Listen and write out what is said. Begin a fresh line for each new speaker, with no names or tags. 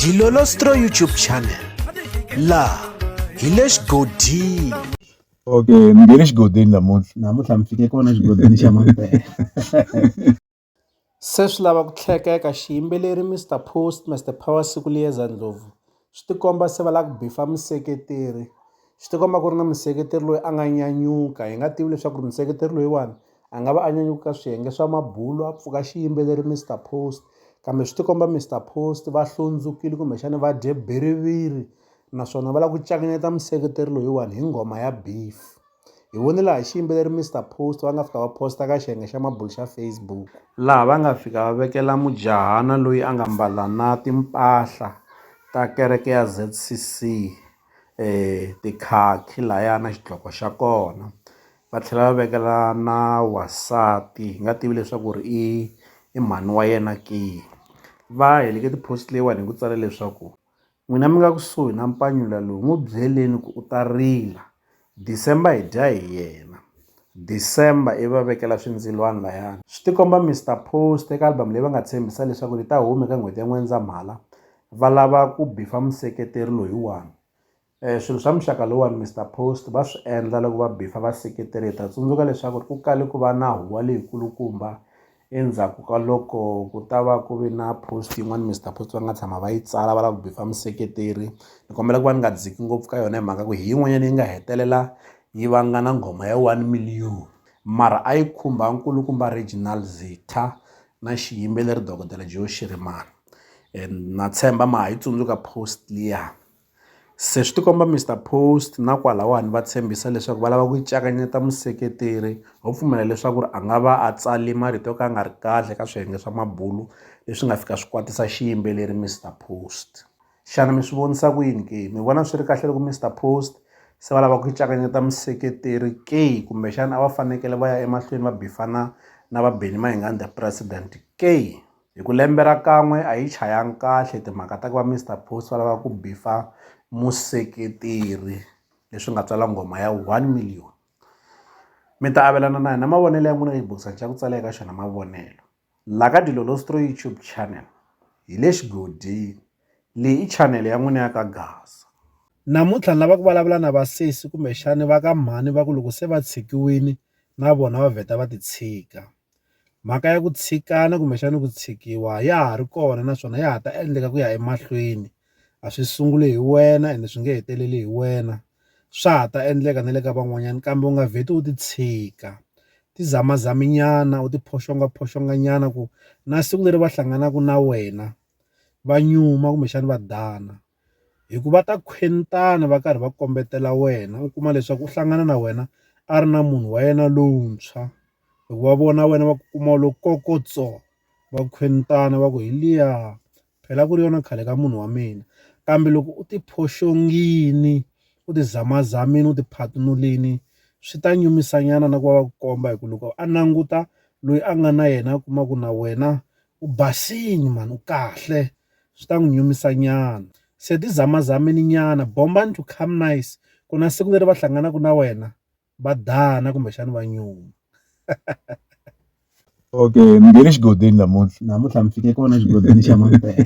Dilolostro YouTube channel laha hi le xigodini okay
mi nge le xigodini namuntlha namuntlha mi fike kona xigodini
xa mampela se swi lava ku tlhekeka xiyimbeleri mr post mr power siku liyeza ndlovu swi ti komba se va lava ku beef-a museketeri swi ti komba ku ri na museketeri loyi a nga nyanyuka hi nga tivi leswaku ri museketeri loyiwani a nga va a nyanyuka ka swiyenge swa mabulo a pfuka xiyimbeleri Mister Post kambe swi ti komba Mister Post va hlundzukile kumbexana va dye bhiriviri naswona va lava ku cakanyeta museketeri loyiwani hi nghoma ya beef. Hi vone laha xiyimbeleri Mister Post va nga fika va post-a ka xiyenge xa mabulo xa Facebook, laha va nga fika va vekela mujahana loyi a nga mbala na timpahla ta kereke ya Z_C_C tikhakhi lahaya na xidloko xa kona, va tlhela va vekela na wansati hi nga tivi leswaku ri i i mhani wa yena ke. Va heleke ti-post leyiwani hi ku tsala leswaku. N'wina mi nga kusuhi na mpanyula lowu, n'wi byeleni ku u ta rila. December hi dya hi yena. December ivi va vekela swindzilwana layani. Swi tikomba Mister Post eka album leyi va nga tshembisa leswaku ri ta huma eka n'hweti ya N'wendzamhala va lava ku bifa museketeri loyiwani. Swilo swa muxaka lowuwani Mister Post va swi endla loko va bifa vaseketeri. Hi ta tsundzuka leswaku ku kale ku va na huwa leyikulukumba Endzhaku ka loko ku ta va ku ve na post yin'wani Mister Post va nga tshama va yi tsala va lava ku beef-a museketeri ni kombela ku va ni nga dziki ngopfu ka yona hi mhaka ku hi yin'wanyani yi nga hetelela yi vanga na nghoma ya one million mara a yi khumba nkulukumba Reginal Zitha na xiyimbeleri dokodela Joe Shirimani na tshemba ma ha yi tsundzuka post liya. Se swi tikomba Mister Post na kwalawani va tshembisa leswaku va lava ku cakanyeta museketeri ho pfumela leswaku ri a nga va a tsale marito yo ka ya nga ri kahle ka swiyenge swa mabulu leswi nga fika swi kwatisa xiyimbeleri Mister Post. Xana mi swi vonisa ku yini ke, mi vona swi ri kahle loko Mister Post se va lava ku cakanyeta museketeri ke kumbexana a va fanekele va ya emahlweni va bifana na va Benny Mayengani the president ke? hi ku lembe ra kan'we a yi chayanga kahle timhaka ta ku va Mister Post va lava ku beef-a museketeri leswi nga tswala nghoma ya one million mi ta avelana na yena mavonelo ya n'wina ka xibokisana xa ku tsala eka xona mavonelo la ka Dilolostro YouTube channel hi le xigodini leyi i channel ya n'wina ya ka Gasa namuntlha
ni lava ku vulavula na vasesi kumbexani va ka mhani va ku loko se va tshikiwini na vona va vheta va ti tshika. Mhaka ya ku tshikana kumbexana ku tshikiwa ya ha ri kona naswona ya ha ta endleka ku ya emahlweni a swi sunguli hi wena ende swi nge heteleli hi wena swa ha ta endleka na le ka van'wanyana kambe u nga vheti u ti tshika ti zamazami nyana u ti phoxongophoxongo nyana ku na siku leri va hlanganaka na wena va nyuma kumbexana va dana. hi ku va ta khwentana va karhi va kombetela wena u kuma leswaku u hlangana na wena a ri na munhu wa yena lowuntshwa loko va vona wena va ku kuma u lo kokotso va khwetana va ku hi liya phela ku ri yona khale ka munhu wa mina kambe loko u ti phoxongini u ti zamazamini u ti phatinulini swi ta nyumisa nyana na ku va va ku komba hi ku loko a languta loyi a nga na yena a kuma ku na wena U basini mhani u kahle swi ta n'wi nyumisa nyana se ti zamazameni nyana bombani to come nice ku na siku leri va hlanganaka na wena va dana kumbexani va nyuma
okay mi nghene xigodini namuntlha
namuntlha mi
fike kona xigodini xa mampela